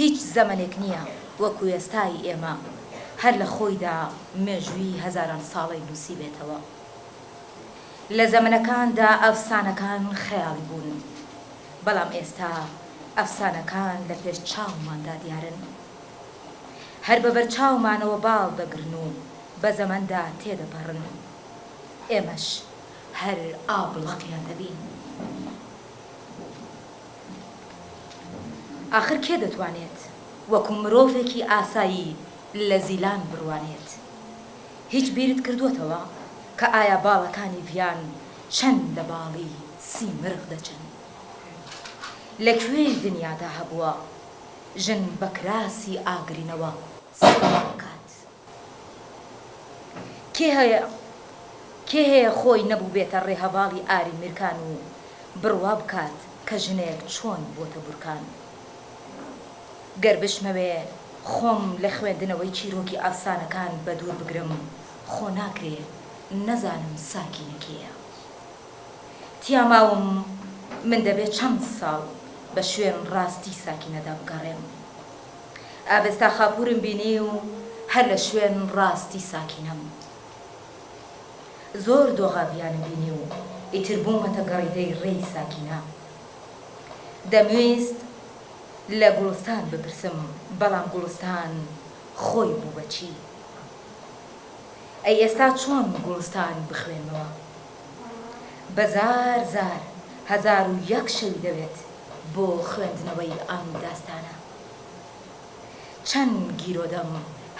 هیچ زەمەنێک نییە وەکو ئێستای ئێمە هەر لە خۆیدا مێژووی هەزاران ساڵەی نووسیبێتەوە. لە زەمەنەکاندا ئەفسانەکان خەیاڵی بوون، بەڵام ئێستا ئەفسانەکان لە پێش چاوماندا دیارن. هەر بە بەرچاومانەوە باڵ دەگرن و بە زەمەندا تێدەپەڕن. ئێمەش هەر ئابڵەقیان دەبین. ئاخر کێ دەتوانێت وەکو مرۆڤێکی ئاسایی لە زیلان بڕوانێت؟ هیچ بیرت کردووەتەوە کە ئایا باڵەکانی ڤیان چەند لە باڵی سیمرغ دەچن؟ لە کوێی دنیادا هەبووە ژن بە کراسی ئاگرینەوە سەیری بکات؟ کێ هەیە کێ هەیە خۆی نەبووبێتە ڕێهەڤاڵی ئاری میرکان و بڕوا بکات کە ژنێک چۆن بووەتە بورکان؟ گەر بشمەوێ خۆم لە خوێندنەوەی چیرۆکی ئەفسانەکان بەدوور بگرم، خۆ ناکرێ نەزانم ساکینە کێیە؟ تیا ماوم، من دەبێ چەند ساڵ بە شوێن ڕاستی ساکینەدا بگەڕێم. ئاڤێستا خاپوورم بینی و هەر لە شوێن ڕاستی ساکینەم. زۆر دۆغاڤیانە بینی و ئیتر بوومەتە گەڕیدەی ڕێی ساکینە. دەمویست. لە گوڵستان بپرسم بەڵام گوڵستان خۆی بوو بە چی؟ ئەی ئێستا چۆن گوڵستان بخوێنمەوە؟ بە زار زار هەزار و یەک شەوی دەوێت بۆ خوێندنەوەی ئەم داستانە. چەند گیرۆدەم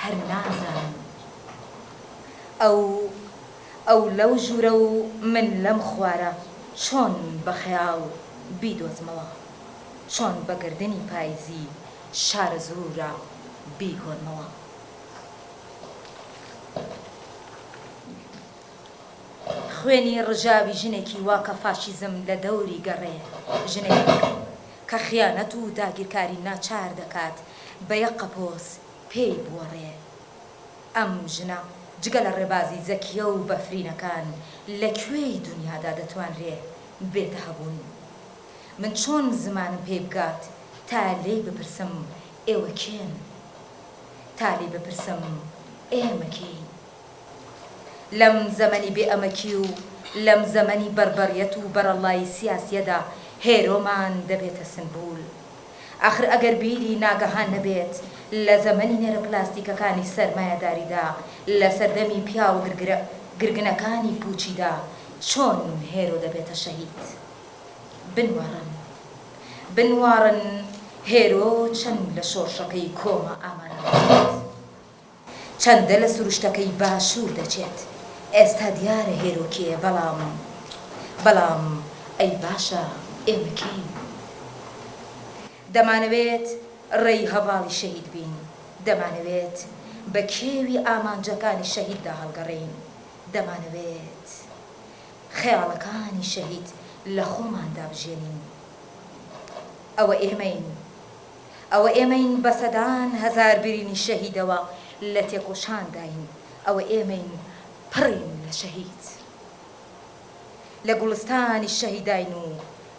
هەر نازانم. ئەو ئەو لەو ژوورە و من لەم خوارە چۆن بە خەیاڵ بیدۆزمەوە؟ چۆن بە گەردەنی پایزی شارەزوورا بیگۆرمەوە. خوێنی ڕژاوی ژنێکی وا کە فاشیزم لە دەوری گەڕێ، ژنێک کە خیانەت و داگیرکاری ناچار دەکات بە یەک قەپۆز پێی بوەڕێ. ئەم ژنە جگە لە ڕێبازی زەکیە و بەفرینەکان لە کوێی دونیادا دەتوانرێ بێتە هەبوون؟ من چۆن زمانم پێی بگات تا لێی بپرسم ئێوە کێن؟ تا لێی بپرسم ئێمە کێین؟ لەم زەمەنی بێ ئەمەکی و لەم زەمەنی بەڕبەڕیەت و بەرەڵڵایی سیاسیەدا هێرۆمان دەبێتە سنبول. ئاخر ئەگەر بیری ناگەهان نەبێت لە زەمەنی نێرە پلاستیکەکانی سەرمایەداریدا لە سەردەمی پیاوە گرگرە گرگنەکانی پووچیدا چۆن هێرۆ دەبێتە شەهید؟ بنواڕن بنواڕن هێرۆ چەند لە شۆڕشەکەی کۆما ئامادە دەکرێت چەندە لە سروشتەکەی باشوور دەچێت ئێستا دیارە هێرۆ کێیە بەڵام بەڵام ئەی باشە ئێمە کێین دەمانەوێت ڕێی هەڤاڵی شەهید بین دەمانەوێت بە کێوی ئامانجەکانی شەهیددا هەڵگەڕێین دەمانەوێت خەیاڵەکانی شەهید لە خۆماندا بژێنین. ئەوە ئێمەین. ئەوە ئێمەین بە سەدان هەزار برینی شەهیدەوە لە تێکۆشانداین. ئەوە ئێمەین پڕین لە شەهید. لە گوڵستانی شەهیداین و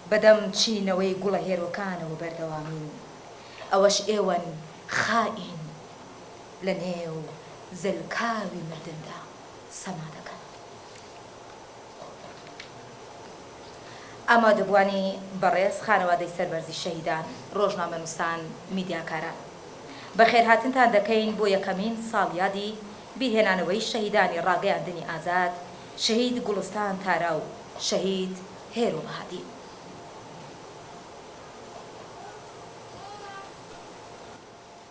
بە دەم چینەوەی گوڵە هێرۆکانەوە بەردەوامین. ئەوەش ئێوەن خائین لە نێو زەلکاوی مردندا. سەما دەکەن. ئامادەبووانی بەڕێز خانەوادەی سەربەرزی شەهیدان، ڕۆژنامەنووسان، میدیاکاران. بەخێرهاتنتان دەکەین بۆ یەکەمین ساڵیادی بیرهێنانەوەی شەهیدانی ڕاگەیاندنی ئازاد، شەهید گوڵستان تارا و شەهید هێرۆ بەهادین.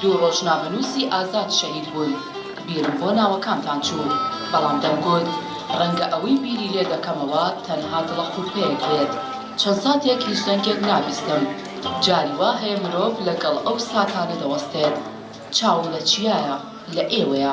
دوو ڕۆژنامەنووسی ئازاد شەهید بوون، بیرم بۆ ناوەکانتان چوو، بەڵام دەمگوت ڕەنگە ئەوەی بیری لێ دەکەمەوە تەنها دڵەخورپەیەک بێت. چەند ساتێک هیچ دەنگێک نابیستم، جاری وا هەیە مرۆڤ لەگەڵ ئەو ساتانە دەوەستێت. چاوم لە چیایە، لە ئێوەیە.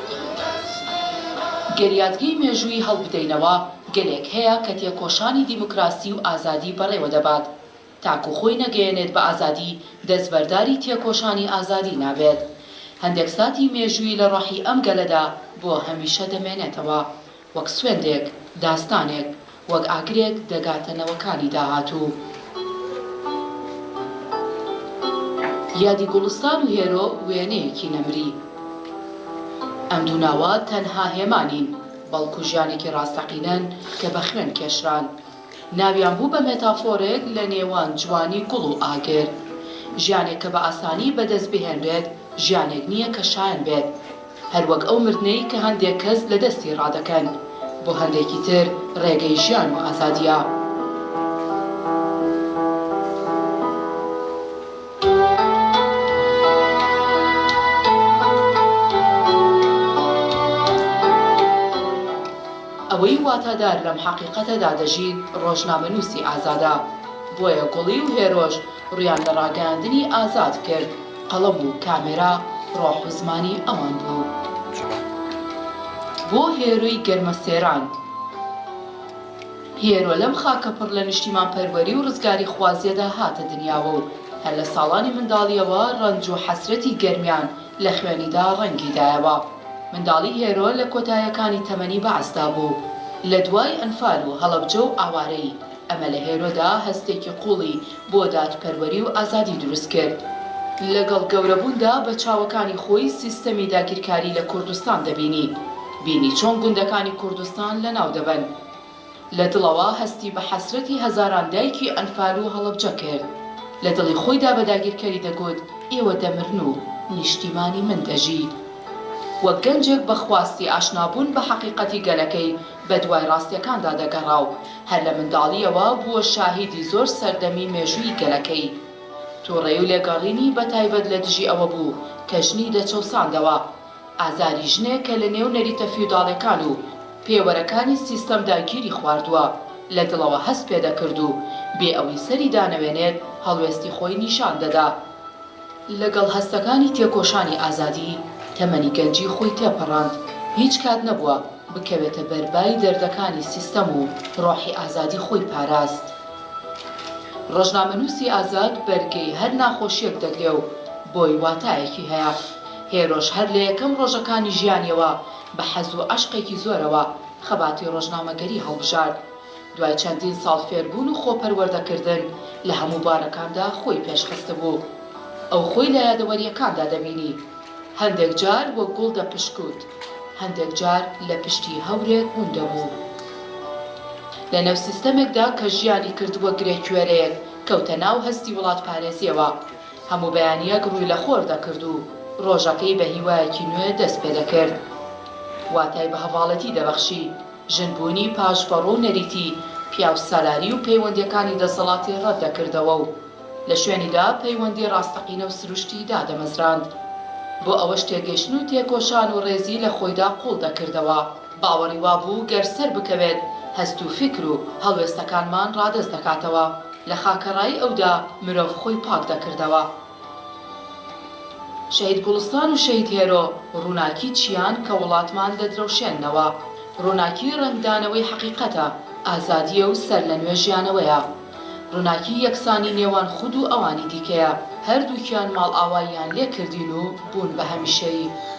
گەر یادگەی مێژووی هەڵبدەینەوە، گەلێک هەیە کە تێکۆشانی دیموکراسی و ئازادی بەڕێوە دەبات. تاکو خۆی نەگەیەنێت بە ئازادی، دەستبەرداری تێکۆشانی ئازادی نابێت. هەندێک ساتی مێژوویی لە ڕۆحی ئەم گەلەدا بۆ هەمیشە دەمێنێتەوە. وەک سوێندێک، داستانێک، وەک ئاگرێک دەگاتە نەوەکانی داهاتوو. یادی گوڵستان و هێرۆ وێنەیەکی نەمری. ئەم دوو ناوە تەنها هێما نین، بەڵکو ژیانێکی ڕاستەقینەن کە بە خوێن کێشران. ناویان بوو بە مێتافۆرێک لە نێوان جوانی گوڵ و ئاگر. ژیانێک کە بە ئاسانی بەدەست بهێنرێت، ژیانێک نییە کە شایەن بێت. هەر وەک ئەو مردنەی کە هەندێک کەس لە دەستی ڕادەکەن، بۆ هەندێکی تر ڕێگەی ژیان و ئازادییە. ئەوەی واتادار لەم حەقیقەتەدا دەژیت ڕۆژنامەنووسی ئازادە. بۆیە گوڵی و هێرۆش ڕوویان لە ڕاگەیاندنی ئازاد کرد. قەڵەم و کامێرا ڕۆح و زمانی ئەوان بوو بۆ هێرۆی گەرمەسێران هێرۆ لەم خاکە پڕ لە نیشتیمانپەروەری و ڕزگاریخوازیەدا هاتە دنیاوە و هەر لە ساڵانی منداڵیەوە ڕەنج و حەسرەتی گەرمیان لە خوێنیدا ڕەنگی دایەوە منداڵی هێرۆ لە کۆتایەکانی تەمەنی بەعسدا بوو لە دوای ئەنفال و هەڵەبجە و ئاوارەیی ئەمە لە هێرۆدا هەستێکی قووڵی بۆ دادپەروەری و ئازادی دروست کرد. لەگەڵ گەورەبووندا بە چاوەکانی خۆی سیستەمی داگیرکاری لە کوردستان دەبینی، بینی چۆن گوندەکانی کوردستان لەناو دەبەن. لە دڵەوە هەستی بە حەسرەتی هەزاران دایکی ئەنفال و هەڵەبجە کرد. لە دڵی خۆیدا بە داگیرکەری دەگوت ئێوە دەمرن و نیشتیمانی من دەژی. وەک گەنجێک بە خواستی ئاشنابوون بە حەقیقەتی گەلەکەی، بە دوای ڕاستیەکاندا دەگەڕا و هەر لە منداڵیەوە بووە شاهیدی زۆر سەردەمی مێژووی گەلەکەی. توڕەی و لێگەڕینی بە تایبەت لە دژی ئەوە بوو کە ژنی دەچەوساندەوە. ئازاری ژنێک کە لە نێو نەریتە فیوداڵێکان و پێوەرەکانی سیستەمدا گیری خواردووە، لە دڵەوە هەست پێ دەکرد و بێ ئەوی سەری دانەوێنێت هەڵوێستی خۆی نیشان دەدا. لەگەڵ هەستەکانی تێکۆشانی ئازادی، تەمەنی گەنجی خۆی تێپەڕاند، هیچ کات نەبووە بکەوێتە بەر بای دەردەکانی سیستەم و ڕۆحی ئازادی خۆی پاراست. ڕۆژنامەنووسی ئازاد بەرگەی هەر ناخۆشییەک دەگرێ و بۆی واتایەکی هەیە. هێرۆش هەر لە یەکەم ڕۆژەکانی ژیانیەوە بە حەز و عەشقێکی زۆرەوە خەباتی ڕۆژنامەگەری هەڵبژارد. دوای چەندین ساڵ فێربوون و خۆپەروەردەکردن، لە هەموو بوارەکاندا خۆی پێشخستبوو. ئەو خۆی لە یادەوەرییەکاندا دەبینی، هەندێک جار وەک گوڵ دەپشکووت، هەندێک جار لە پشتی هەورێک گوون دەبوو. لە نێو سیستەمێکدا کە ژیانی کردووە گرێکوێرەیەک، کەوتە ناو هەستی وڵاتپارێزییەوە. هەموو بەیانییەک ڕووی لە خۆر دەکرد و ڕۆژەکەی بە هیوایەکی نوێ دەست پێدەکرد. واتای بە هەڤاڵێتی دەبەخشی. ژن بوونی پاشڤەڕۆ و نەریتی پیاوسالاری و پەیوەندیەکانی دەسەڵاتی ڕەت دەکردەوە و لە شوێنیدا پەیوەندی ڕاستەقینە و سروشتی دادەمەزراند. بۆ ئەوەش تێگەیشتن و تێکۆشان و ڕێزی لە خۆیدا قوڵ دەکردەوە. باوەڕی وابوو گەر سەر بکەوێت هەست و فیکر و هەڵوێستەکانمان ڕادەست دەکاتەوە. لە خاکەڕایی ئەودا مرۆڤ خۆی پاک دەکردەوە. شەهید گوڵستان و شەهید هێرۆ ڕووناکی چیان کە وڵاتمان دەدرەوشێننەوە. ڕووناکی ڕەنگدانەوەی حەقیقەتە، ئازادییە و سەرلەنوێ ژیانەوەیە. ڕووناکی یەکسانی نێوان خود و ئەوانی دیکەیە، هەردووکیان ماڵئاواییان لێ کردین و بوون بە هەمیشەیی.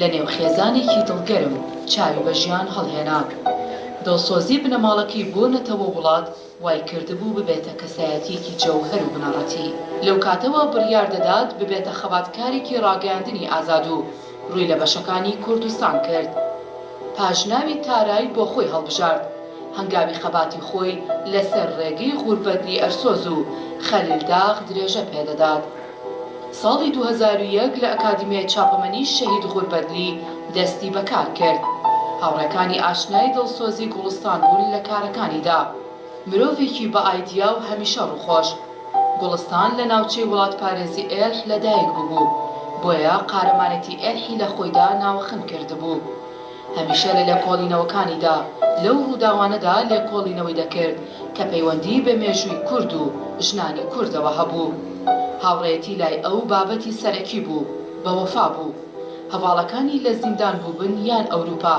لە نێو خێزانێکی دڵگەرم چاوی بە ژیان هەڵهێنا. دڵسۆزی بنەماڵەکەی بۆ نەتەوە و وڵات وای کردبوو ببێتە کەسایەتییەکی جەوهەر و بنەڕەتی. لەو کاتەوە بڕیار دەدات ببێتە خەباتکارێکی ڕاگەیاندنی ئازاد و ڕووی لە بەشەکانی کوردستان کرد. پاشناوی تارای بۆ خۆی هەڵبژارد. هەنگاوی خەباتی خۆی لەسەر ڕێگەی غوربەت لیئەرسۆز و خەلیل داغ درێژە پێ دەدات. ساڵی دوو هەزار و یەک لە ئەکادیمیای چاپەمەنی شەهید غوربەدلی دەستی بە کار کرد. هاوڕێکانی ئاشنای دڵسۆزی گوڵستان بوون لە کارەکانیدا. مرۆڤێکی بە ئایدیا و هەمیشە ڕووخۆش. گوڵستان لە ناوچەی وڵاتپارێزی ئێلح لە دایک ببوو، بۆیە قارەمانێتی ئێلحی لە خۆیدا ناوخن کردبوو. هەمیشە لە لێکۆڵینەوەکانیدا لەو ڕووداوانەدا لێکۆڵینەوەی دەکرد کە پەیوەندیی بە مێژووی کورد و ژنانی کوردەوە هەبوو. هاوڕێیەتی لای ئەو بابەتی سەرەکی بوو. بە وەفا بوو. هەڤاڵەکانی لە زیندان بووبن یان ئەوروپا،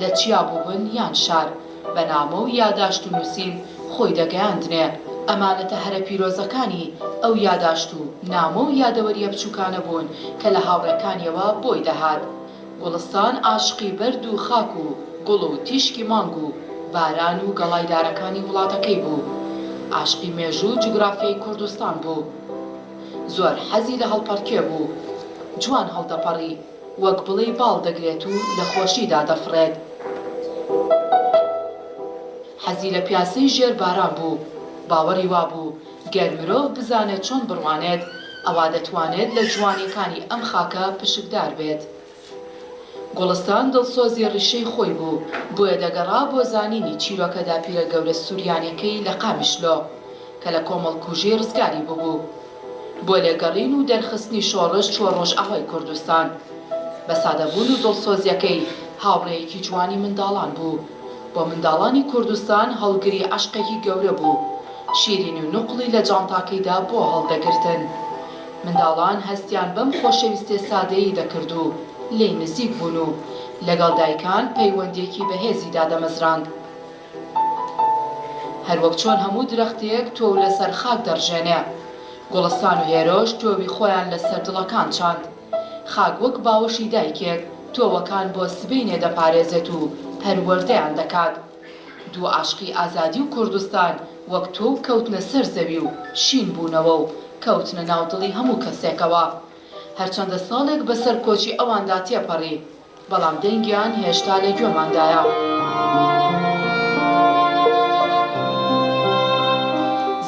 لە چیا بووبن یان شار، بە نامە و یاداشت و نووسین خۆی دەگەیاندنێ. ئەمانەتە هەرە پیرۆزەکانی ئەو یاداشت و نامە و یادەوەرییە بچووکانە بوون کە لە هاوڕێکانییەوە بۆی دەهات. گوڵستان ئاشقی بەرد و خاک و گوڵ و تیشکی مانگ و باران و گەڵای دارەکانی وڵاتەکەی بوو. ئاشقی مێژوو و جوگرافیای کوردستان بوو. زۆر حەزی لە هەڵپەڕکێ بوو. جوان هەڵدەپەڕی، وەک بڵێی باڵ دەگرێت و لە خۆشیدا دەفڕێت. حەزی لە پیاسەی ژێر باران بوو. باوەڕی وابوو. گەر مرۆڤ بزانێت چۆن بڕوانێت، ئەوا دەتوانێت لە جوانیەکانی ئەم خاکە پشکدار بێت. گوڵستان دڵسۆزی ڕیشەی خۆی بوو، بۆیە دەگەڕا بۆ زانینی چیرۆکە داپیرە گەورە سوریانیەکەی لە قامیشلۆ، کە لە کۆمەڵکوژی ڕزگاری ببوو. بۆ لێگەڕین و دەرخستنی شۆڕش چووە ڕۆژئاوای کوردستان. بە سادەبوون و دڵسۆزیەکەی، هاوڕێیەکی جوانی منداڵان بوو. بۆ منداڵانی کوردستان هەڵگری عەشقێکی گەورە بوو، شیرین و نوقڵی لە جانتاکەیدا بۆ هەڵدەگرتن. منداڵان هەستیان بەم خۆشەویستیە سادەیەی دەکرد و لێی نزیک بوون و لەگەڵ دایکان پەیوەندیەکی بەهێزی دادەمەزراند. هەروەک چۆن هەموو درەختێک تۆو لەسەر خاک دەڕژێنێ، گوڵستان و هێرۆش تۆوی خۆیان لەسەر دڵەکان چاند. خاک وەک باوەشی دایکێک تۆوەکان بۆ سبەینێ دەپارێزێت و پەروەردەیان دەکات. دوو عەشقی ئازادی و کوردستان وەک تۆو کەوتنە سەر زەوی و شین بوونەوە و کەوتنە ناو دڵی هەموو کەسێکەوە. هەرچەندە ساڵێک بەسەر کۆچی ئەواندا تێپەڕی، بەڵام دەنگیان هێشتا لە گوێماندایە.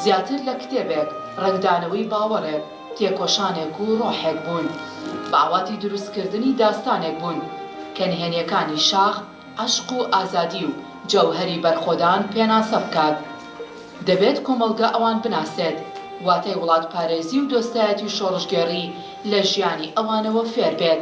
زیاتر لە کتێبێک، ڕەنگدانەوەی باوەڕێک، تێکۆشانێک و ڕۆحێک بوون. بە ئاواتی دروستکردنی داستانێک بوون، کە نهێنییەکانی شاخ، عەشق و ئازادی و جەوهەری بەرخۆدان پێناسە بکات. دەبێت کۆمەڵگە ئەوان بناسێت، واتای وڵاتپارێزی و دۆستایەتی شۆڕشگێڕی لە ژیانی ئەوانەوە فێر بێت.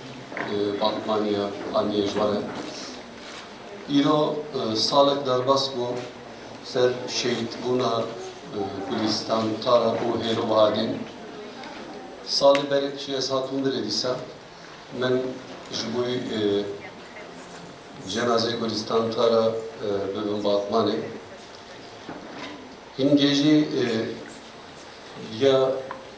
باتمانیە ئامیەش وەرە ئیرۆ ساڵێک دەربەس بۆ سەر شەید بوونا کوردستان تارە بۆ هێرۆ بەهادێن ساڵی بەرێک چی ئەس هاتوون برێ دیسا من ji بووی جێنازەی کوردستان تارە ببم باتمانێ هینگێژی یا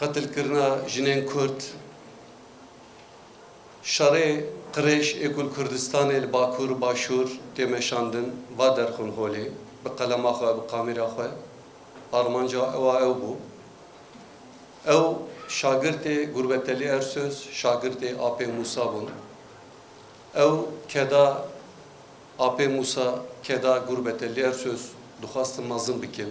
قەتل کرنا ژنێن کورد شەڕێ قڕێش ئێ گول کوردستانێ لە باکوور و باشوور تێ مەشاندن ڤا دەرخون هۆلێ بە قەلەما خوە بە قامیرا خوە ئارمانجا ئەوا ئەو بوو ئەو شاگرتێ گوربەتەلی ئەرسۆز شاگرتێ ئاپێ موسا بوون ئەو کەدا ئاپێ موسا کەدا گوربەتەلی ئەرسۆز دخواستم مەزن بکن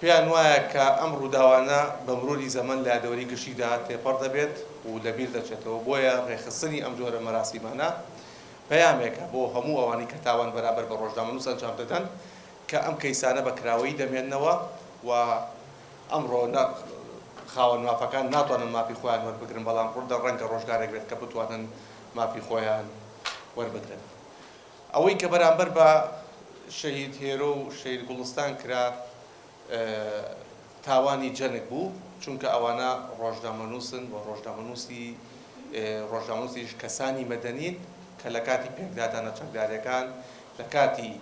پێیان وایە کە ئەم ڕووداوانە بە مروری زەمەن لە یادەوەری گشتیدا تێپەڕ دەبێت و لە بیر دەچێتەوە، بۆیە ڕێکخستنی ئەم جۆرە مەراسیمانە پەیامێکە بۆ هەموو ئەوانەی کە تاوان بەرامبەر بە ڕۆژنامەنووس ئەنجام دەدەن کە ئەم کەیسانە بە کراوەیی دەمێننەوە و ئەمڕۆ نە خاوەن مافەکان ناتوانن مافی خۆیان وەربگرن بەڵام ڕەنگە ڕۆژگارێک بێت کە بتوانن مافی خۆیان وەربگرن. ئەوەی کە بەرامبەر بە شەهید هێرۆ و شەهید گوڵستان کرا تاوانی جەنگ بوو، چونکە ئەوانە ڕۆژنامەنووسن و ڕۆژنامەنووسی ڕۆژنامەنووسیش کەسانی مەدەنین کە لە کاتی پێکدادانە چەکدارەکان لە کاتی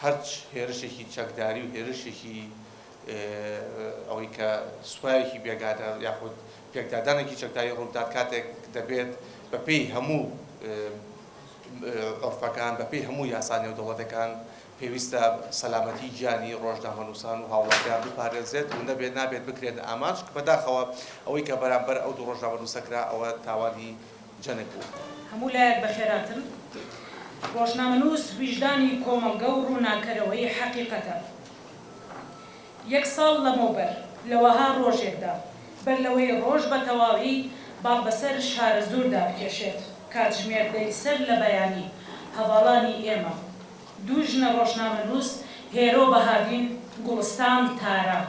هەرچ هێرشێکی چەکداری و هێرشێکی ئەوەی کە سوپایەکی بێگانە یاخود پێکدادانێکی چەکداری ڕووبدات کاتێک دەبێت بەپێی هەموو عورفەکان، بەپێی هەموو یاسا نێودەوڵەتەکان، پێویستە سەلامەتی گیانی ڕۆژنامەنووسان و هاوڵاتیان بپارێزرێت و نەبێت نابێت بکرێنە ئامانج، بەداخەوە ئەوەی کە بەرامبەر ئەو دوو ڕۆژنامەنووسە کرا ئەوە تاوانی جەنگ بوو. هەموو لایەک بەخێراتن. ڕۆژنامەنووس ویژدانی کۆمەڵگە و ڕووناککەرەوەی حەقیقەتە. یەک ساڵ لەمەوبەر لە وەها ڕۆژێکدا، بەر لەوەی ڕۆژ بە تەواوی باڵ بەسەر شارەزووردا بکێشێت، کاتژمێر دەی سەر لە بەیانی، هەڤاڵانی ئێمە، دوو ژنە ڕۆژنامەنووس، هێرۆ بەهادین، گوڵستان تارا،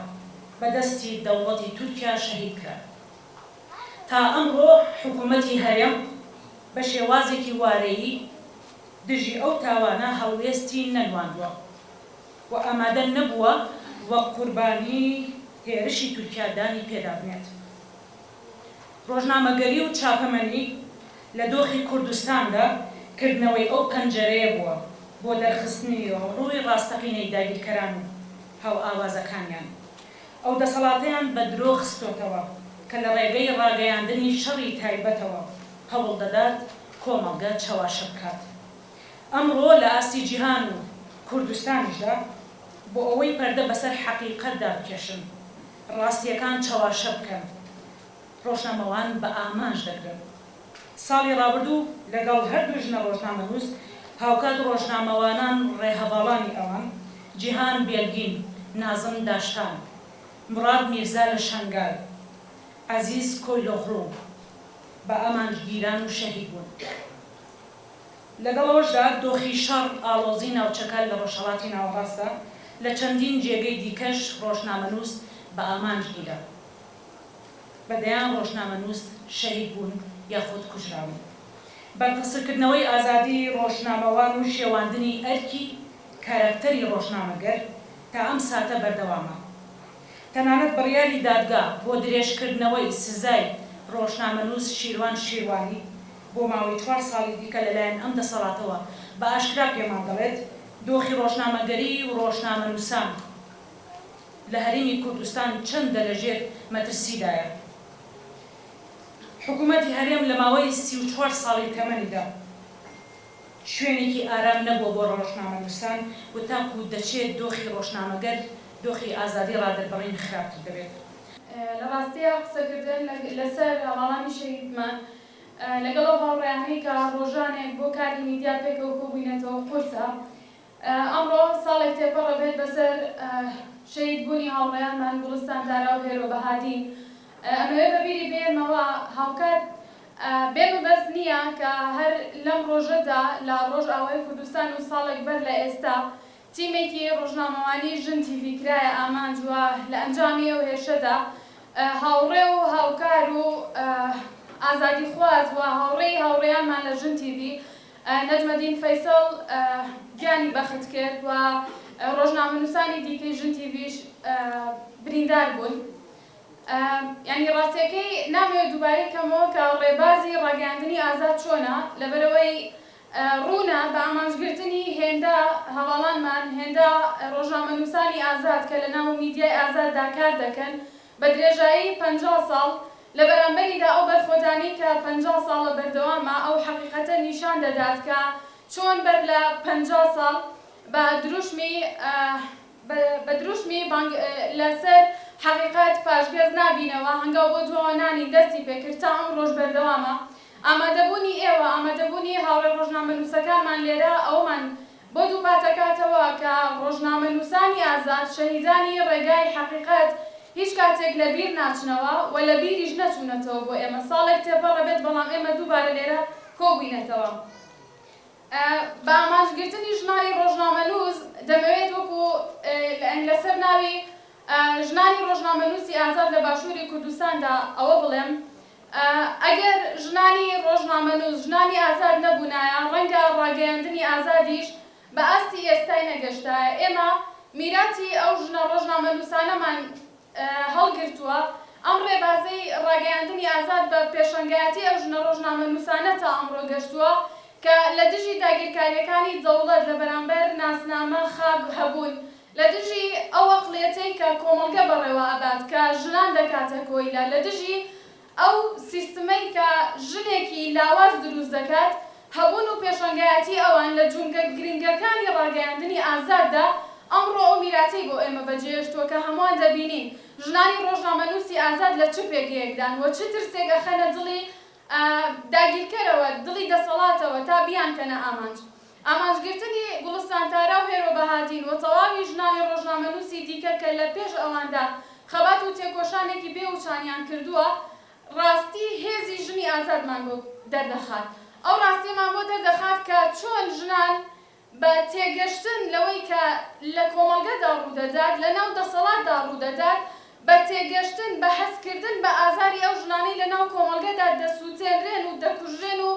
بە دەستی دەوڵەتی تورکیا شەهید کران. تا ئەمڕۆ حکوومەتی هەرێم بە شێوازێکی وارەیی دژی ئەو تاوانە هەڵوێستی نەنواندووە. و ئامادە نەبووە وەک قوربانی هێرشی تورکیا دانی پێدابنێت. ڕۆژنامەگەری و چاپەمەنی لە دۆخی کوردستاندا کردنەوەی ئەو پەنجەرەیە بووە بۆ دەرخستنی ڕووی ڕاستەقینەی داگیرکەران و هاوئاوازەکانیان. ئەو دەسەڵاتەیان بە درۆ خستۆتەوە کە لە ڕێگەی ڕاگەیاندنی شەڕی تایبەتەوە هەوڵدەدات کۆمەڵگە چەواشە بکات. ئەمڕۆ لە ئاستی جیهان و کوردستانیشدا بۆ ئەوەی پەردە بەسەر حەقیقەتدا بکێشن، ڕاستییەکان چەواشە بکەن، ڕۆژنامەوان بە ئامانج دەگرن. ساڵی ڕابردوو لەگەڵ هەردوو ژنە ڕۆژنامەنووس هاوکات ڕۆژنامەوانان ڕێهەڤاڵانی ئەوان، جیهان بێلگین، نازم داشتان، موراد میرزا لە شەنگال، عەزیز کۆیلۆغڵو، بە ئامانج گیران و شەهید بوون. لەگەڵ ئەوەشدا دۆخی شەڕ ئاڵۆزی ناوچەکە لە ڕۆژهەڵاتی ناوەڕاستە لە چەندین جێگەی دیکەش ڕۆژنامەنووس بە ئامانج گیرا بە دەیان ڕۆژنامەنووس شەهید بوون یاخود کوژراون بەرتەسککردنەوەی ئازادی ڕۆژنامەوان و شێواندنی ئەرکی کاراکتەری ڕۆژنامەگەر تا ئەم ساتە بەردەوامە تەنانەت بڕیاری دادگا بۆ درێژکردنەوەی سزای ڕۆژنامەنووس شیروان شیروانی بۆ ماوەی چوار ساڵی دیکە لەلایەن ئەم دەسەڵاتەوە بە ئاشکرا پێمان دەڵێت دۆخی ڕۆژنامەگەری و ڕۆژنامەنووسان لە هەرێمی کوردستان چەندە لە ژێر مەترسیدایە. حکوومەتی هەرێم لە ماوەی سی و چوار ساڵی تەمەنیدا شوێنێکی ئارام نەبووە بۆ ڕۆژنامەنووسان و تاکوو دەچێت دۆخی ڕۆژنامەگەر، دۆخی ئازادی ڕادەربڕین خراپتر دەبێت. لە ڕاستیا قسەکردن لەسەر هەواڵانی شەهیدمان لەگەڵ ئەو هاوڕێیانەی کە ڕۆژانێک بۆ کاری میدیا پێکەوە کۆبووینەتەوە قورسە ئەمڕۆ ساڵێک تێپەڕە بێت بەسەر شەهید بوونی هاوڕێیانمان گوڵستان تارا و هێرۆ بەهادین ئەمەوێ بە بیری بێنمەوە هاوکات بێ مەبەست نییە کە هەر لەم ڕۆژەدا لە ڕۆژئاوای کوردستان و ساڵێک بەر لە ئێستا تیمێکی ڕۆژنامەوانیی ژن تیڤی کرایە ئامانج و لە ئەنجامی ئەو هێرشەدا هاوڕێ و هاوکار و ئازادیخواز و هاوڕێی هاوڕێیانمان لە ژن تیڤی، نەجمەدین فەیسەڵ گیانی بەخت کرد و ڕۆژنامەنووسانی دیکەی ژن تیڤیش بریندار بوون. یانی ڕاستییەکەی نامەوێ دووبارەی کەمەوە کە ڕێبازی ڕاگەیاندنی ئازاد چۆنە، لەبەرئەوەی ڕوونە بە ئامانجگرتنی هێندە هەڤاڵانمان، هێندە ڕۆژنامەنووسانی ئازاد کە لەناو میدیای ئازاددا کار دەکەن بە درێژایی پەنجا ساڵ، لە بەرامبەریدا ئەو بەرخۆدانی کە پەنجا ساڵە بەردەوامە ئەو حەقیقەتە نیشان دەدات کە چۆن بەر لە پەنجا ساڵ بە دروشمی بە دروشمی بانگ لە سەر حەقیقەت پاشگەز نابینەوە، هەنگاو بۆ دواوە نانین دەستی پێکرد تا ئەمڕۆش بەردەوامە. ئامادەبوونی ئێوە، ئامادەبوونی هاوڕێ ڕۆژنامەنووسەکانمان لێرە ئەوەمان بۆ دووپاتەکاتەوە کە ڕۆژنامەنووسانی ئازاد، شەهیدانی ڕێگای حەقیقەت هیچ کاتێک لە بیر ناچنەوە و لە بیریش نەچوونەتەوە بۆ ئێمە ساڵێک تێپەڕ بێت بەڵام ئێمە دووبارە لێرە کۆبووینەتەوە بە ئامانج گرتنی ژنانی ڕۆژنامەنووس دەمەوێت وەکو لە سەر ناوی ژنانی ڕۆژنامەنووسی ئازاد لە باشووری کوردستاندا ئەوە بڵێم ئەگەر ژنانی ڕۆژنامەنووس ژنانی ئازاد نەبوونایە، ڕەنگە ڕاگەیاندنی ئازادیش بە ئاستی ئێستای نەگەشتایە. ئێمە میراتی ئەو ژنە ڕۆژنامەنووسانەمان هەڵگرتووە. ئەم ڕێبازەی ڕاگەیاندنی ئازاد بە پێشەنگایەتی ئەو ژنە ڕۆژنامەنووسانە تا ئەمڕۆ گەشتووە کە لە دژی داگیرکارییەکانی دەوڵەت لە بەرامبەر ناسنامە خاک هەبوون لە دژی ئەو ئەقڵیەتەی کە کۆمەڵگە بەڕێوە ئەبات کە ژنان دەکاتە کۆیلە، لە دژی ئەو سیستمەی کە ژنێکی لاواز دروست دەکات، هەبوون و پێشەنگایەتی ئەوان لە جومگە گرنگەکانی ڕاگەیاندنی ئازاددا ئەمڕۆ ئەو میراتەی بۆ ئێمە بەجێهێشتووە کە هەمووان دەبینین ژنانی ڕۆژنامەنووسی ئازاد لە چ پێگەیەکدان و چ ترسێک ئەخەنە دڵی داگیرکەرەوە، دڵی دەسەڵاتەوە تا بیانکەنە ئامانج. ئامانجگرتنی گوڵستان تارا و هێرۆ بەهادین و تەواوی ژنانی ڕۆژنامەنووسی دیکە کە لە پێش ئەواندا خەبات و تێکۆشانێکی بێ وچانیان کردووە، ڕاستی هێزی ژنی ئازادمان بۆ دەردەخات. ئەو ڕاستیەمان بۆ دەردەخات کە چۆن ژنان بە تێگەشتن لەوەی کە لە کۆمەڵگەدا ڕوودەدات، لەناو دەسەڵاتدا ڕوودەدات، بە تێگەشتن، بە هەستکردن بە ئازاری ئەو ژنانەی لەناو کۆمەڵگەدا دەسووتێنرێن و دەکوژرێن و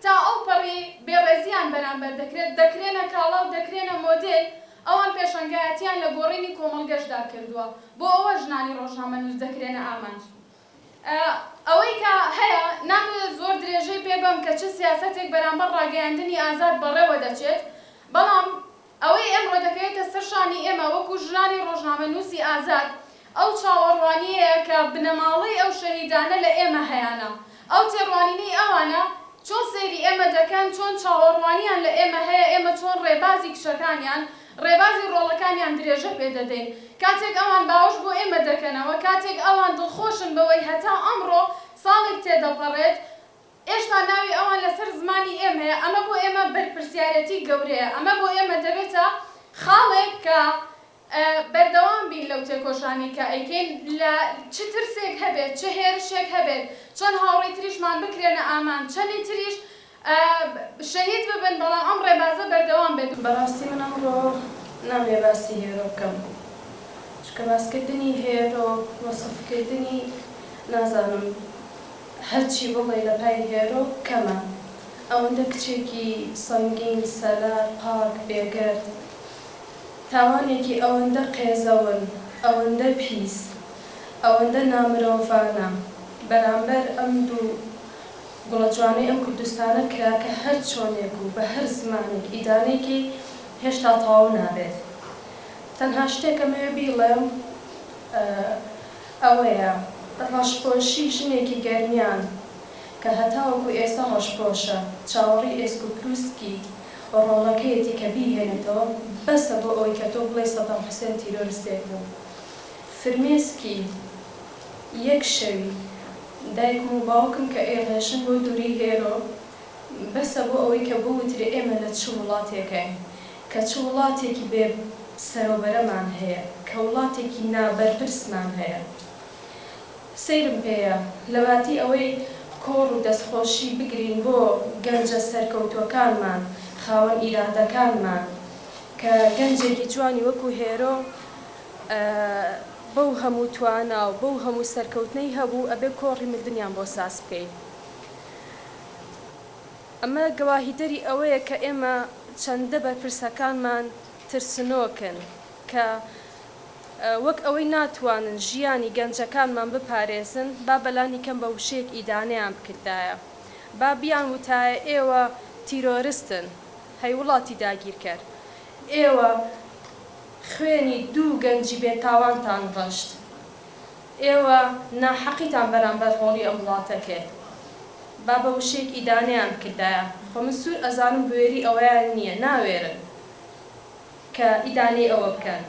تا ئەو پەڕی بێڕێزییان بەرامبەر دەکرێت، دەکرێنە کاڵا و دەکرێنە مۆدێل، ئەوان پێشەنگایەتییان لە گۆڕینی کۆمەڵگەشدا کردووە، بۆ ئەوە ژنانی ڕۆژنامەنووس دەکرێنە ئامانج. ئەوەی کە هەیە نامەوێت زۆر درێژەی پێ بەم کە چ سیاسەتێک بەرامبەر ڕاگەیاندنی ئازاد بەڕێوە دەچێت، بەڵام ئەوەی ئێمڕۆ دەکەوێتە سەر شانی ئێمە وەکوو ژنانی ڕۆژنامەنووسی ئازاد ئەو چاوەڕوانییەیە کە بنەماڵەی ئەو شەهیدانە لە ئێمە هەیانە، ئەو تێڕوانینەی ئەوانە چۆن سەیری ئێمە دەکەن، چۆن چاوەڕوانییان لە ئێمە هەیە، ئێمە چۆن ڕێبازی کچەکانیان، ڕێبازی ڕۆڵەکانیان درێژە پێ دەدەین. کاتێک ئەوان باوەش بۆ ئێمە دەکەنەوە، کاتێک ئەوان دڵخۆشن بەوەی هەتا ئەمڕۆ، ساڵێک تێدەپەڕێت، ئێشتا ناوی ئەوان لەسەر زمانی ئێمەیە، ئەمە بۆ ئێمە بەرپرسیارێتی گەورەیە. ئەمە بۆ ئێمە دەبێتە خاڵێک کە بەردەوام بین لەو تێکۆشانەی کە ئەیکەین، لە چ ترسێک هەبێت، چ هێرشێک هەبێت، چەند هاوڕێی تریشمان بکرێنە ئامانج، چەندی تریش. شەهید ببن بەڵام ئەم ڕێبازە بەردەوام بێت. بەڕاستی من ئەمڕۆ نامەوێ باسی هێرۆ بکەم چونکە باسکردنی هێرۆ وەسف کردنی نازانم هەرچی بڵێی لە پای هێرۆ کەمە ئەوەندە کچێکی سەنگین سەلار پاک بێگەرد تاوانێکی ئەوەندە قێزەون ئەوەندە پیس ئەوەندە نامرۆڤانە بەرامبەر ئەم دوو گوڵە جوانەی ئەم کوردستانە کراکە هەر چۆنێک و بە هەر زمانێک ئیدانەی کەی هێشتا تەواو نابێت تەنها شتێک ئەمەوێ بیڵێم ئەوەیە ڕەشپۆشی ژنێکی گەرمیان کە هەتاوەکو ئێستا ڕەشپۆشە چاوەڕێی ئێسک و پروسکی ڕۆڵەکەیەتی کە بیهێنێتەوە بەسە بۆ ئەوەی کە تۆ بڵێی سەدام حوسێن تیرۆرستێک بوو فرمێسکی یەک شەوی دایکم و باوکم کە ئەیڕێژن بۆ دووری هێرۆ بەسە بۆ ئەوەی کە بوترێ ئێمە لە چ وڵاتێکین کە چ وڵاتێکی بێ سەرۆبەرەمان هەیە کە وڵاتێکی نا بەرپرسمان هەیە سەیرم پێیە لەباتی ئەوەی کۆڕ و دەستخۆشی بگرین بۆ گەنجە سەرکەوتوەکانمان خاوەن ئیرادەکانمان کە گەنجێکی جوانی وەکو هێرۆ بەو هەموو توانا و بەو هەموو سەرکەوتنەی هەبوو ئەبێ کۆڕی مردنیان بۆ ساز بکەین ئەمە گەواهیدەری ئەوەیە کە ئێمە چەندە بەرپرسەکانمان ترسنۆکن کە وەک ئەوەی ناتوانن ژیانی گەنجەکانمان بپارێزن با بەلانی کەم بە وشەیەک ئیدانەیان بکردایە با بیان وتایە ئێوە تیرۆرستن هەی وڵاتی داگیرکەر ئێوە خوێنی دوو گەنجی بێ تاوانتان ڕشت ئێوە ناحەقیتان بەرامبەر هۆڵی ئەم وڵاتە کرد با بە وشەیەک ئیدانەیان بکردایە خۆ من سوور ئەزانم بوێری ئەوەیان نیە ناوێرن کە ئیدانەی ئەوە بکەن.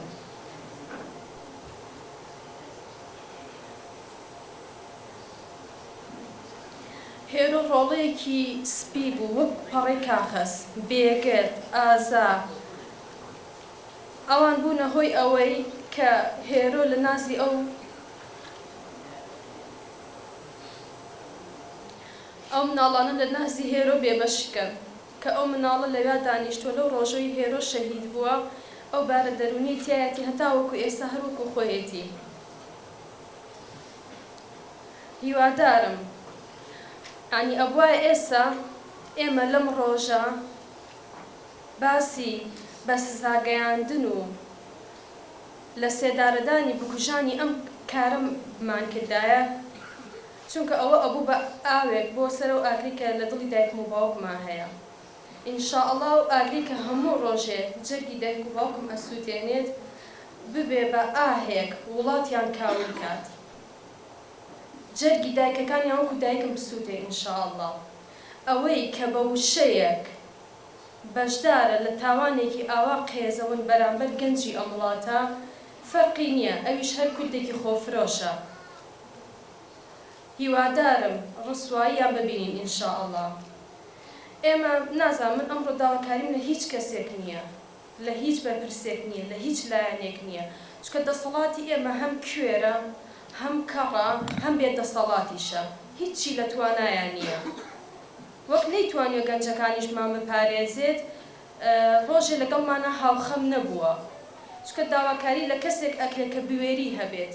هێرۆ ڕۆڵەیەکی سپی بوو وەک پەڕەی کاخەز بێگەرد ئازا. ئەوان بوونە هۆی ئەوەی کە هێرۆ لە نازی ئەو ئەو مناڵانە لە نازی هێرۆ بێ بەش کەن کە ئەو مناڵە لەویا دانیشتوە لەو ڕۆژەوی هێرۆ شەهید بووە ئەو بارە دەروونیەی تیایەتی هەتا وەکو ئێستا هەر وەکو خۆیەتی هیوادارم یانی ئەبوایە ئێستا ئێمە لەم ڕۆژە باسی بە سزاگەیاندن و لە سێدارەدانی بکوژانی ئەم کارە مان کردایە چونکە ئەوە ئەبوو بە ئاوێک بۆ سەر ئەو ئاگرەی کە لە دڵی دایکم و باوکما هەیە ان شاء اللە ئەو ئاگرەی کە هەموو ڕۆژێ جەرگی دایک و باوکم ئەسووتێنێت ببێ بە ئاهێک وڵاتیان کاول کات جەرگی دایکەکانیان وەکو دایکم بسووتێ ان شاء اللە ئەوەی کە بە وشەیەک بەشدارە لە تاوانێکی ئاوا قێزەون بەرامبەر گەنجی ئەم وڵاتە فەرقی نیە ئەویش هەر کوردێکی خۆفرۆشە هیوادارم ڕسواییان ببینین ان شاء اللە ئێمە نازانم من ئەمڕۆ داواکاریم لە هیچ کەسێک نیە لە هیچ بەرپرسێک نیە لە هیچ لایەنێک نیە چونکە دەسەڵاتی ئێمە هەم کوێرە هەم کەڕە هەم بێ دەسەڵاتیشە هیچی لە توانایان نیە. وەک نەیتوانیوە گەنجەکانیشمان بپارێزێت، ڕۆژێ لەگەڵمانا هاوخەم نەبووە، چونکە داواکاری لە کەسێک ئەکرێ کە بوێری هەبێت،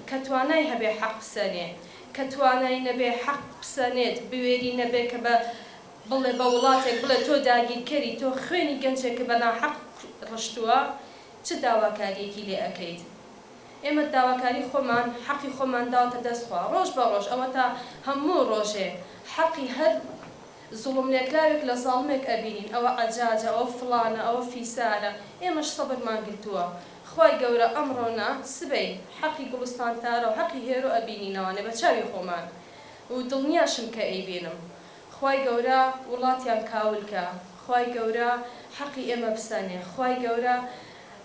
کە توانای هەبێ حەق بسەنێ، کە توانای نەبێ حەق بسەنێت، بوێری نەبێ کە بە بڵێ بە وڵاتێک بڵێ تۆ داگیرکەری، تۆ خوێنی گەنجێکت بە ناحەق ڕشتووە، چ داواکارییەکی لێ ئەکەیت؟ ئێمە داواکاری خۆمان حەقی خۆمان داوەتە دەست خوا ڕۆژ بە ڕۆژ ئەوەتا هەموو ڕۆژێ حەقی هەر زوڵم لێکراوێک لە زاڵمێک ئەبینین ئەوە عەجاجە ئەوە فڵانە ئەوە فیسارە ئێمەش سەبرمان گرتووە خوای گەورە ئەمڕۆ نا سبەی حەقی گوڵستان تارا و حەقی هێرۆ ئەبینینەوانێ بە چاوی خۆمان و دڵنیاشم کە ئەیبینم خوای گەورە وڵاتیان کاول کا خوای گەورە حەقی ئێمە بسەنێ خوای گەورە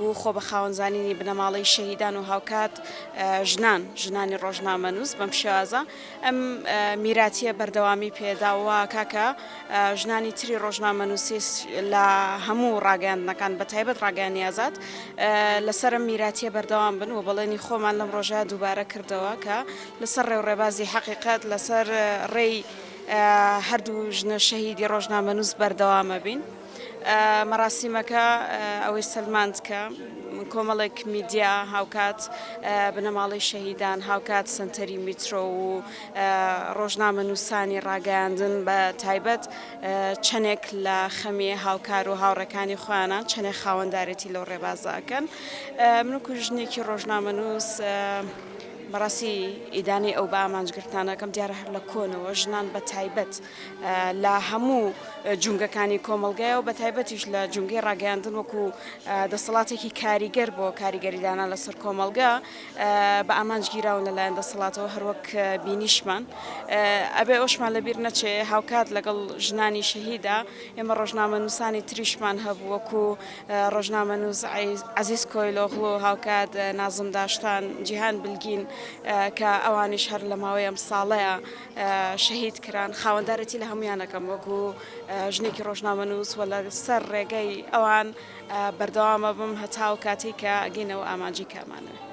و خۆ بە خاوەن زانینی بنەماڵەی شەهیدان و هاوکات ژنان ژنانی ڕۆژنامەنووس بەم شێوازە ئەم میراتیە بەردەوامی پێدا و کاکە ژنانی تری ڕۆژنامەنووسی لە هەموو ڕاگەاندنەکان بە تایبەت ڕاگەانی ئازاد لەسەر میراتیە بەردەوام بن و بەڵێنی خۆمان لەم ڕۆژە دووبارە کردەوە کە لەسەر ڕێوڕێبازی حەقیقەت لەسەر ڕێی هەردوو ژنە شەهیدی ڕۆژنامەنووس بەردەوامە بین. مەراسیمەکە ئەوەی سەلماند کە کۆمەڵێک میدیا هاوکات بنەماڵەی شەهیدان هاوکات سنتەری میترۆ و ڕۆژنامە نووسانی ڕاگەیاندن بە تایبەت چەندێک لە خەمی هاوکار و هاوڕەکانی خۆیانان چەندێک خاوەندارێتی لەو ڕێبازەکەن منکو ژنێکی ڕۆژنامە نووس بەڕاستی ئیدانەی ئەو بە ئامانجگرتانەکەم دیارە هەر لە کۆنەوە ژنان بە تایبەت لە هەموو جومگەکانی کۆمەڵگای و بەتایبەتیش لە جومگەی ڕاگەیاندن وەکو دەسەڵاتێکی کاریگەر بۆ کاریگەریدانە لەسەر کۆمەڵگە بە ئامانج گیراون لەلایەن دەسەڵاتەوە هەروەک بینیشمان ئەبێ ئەوشمان لەبیر نەچێ هاوکات لەگەڵ ژنانی شەهیدا ئێمە ڕۆژنامە نووسانی تریشمان هەبوو وەکو ڕۆژنامە نووز عزیز کۆیلۆغڵۆ هاوکات نازم داشتان جیهان بلگین کە ئەوانیش هەر لە ماوەی ئەم ساڵەیە شەهید کران، خاوەندارێتی لە هەموویان ئەکەم وەکو ژنێکی ڕۆژنامەنووس و لەسەر ڕێگەی ئەوان بەردەوام ئەبم هەتا ئەو کاتەی کە ئەگەینە ئەو ئامانجەی کە ئەمانەوێ.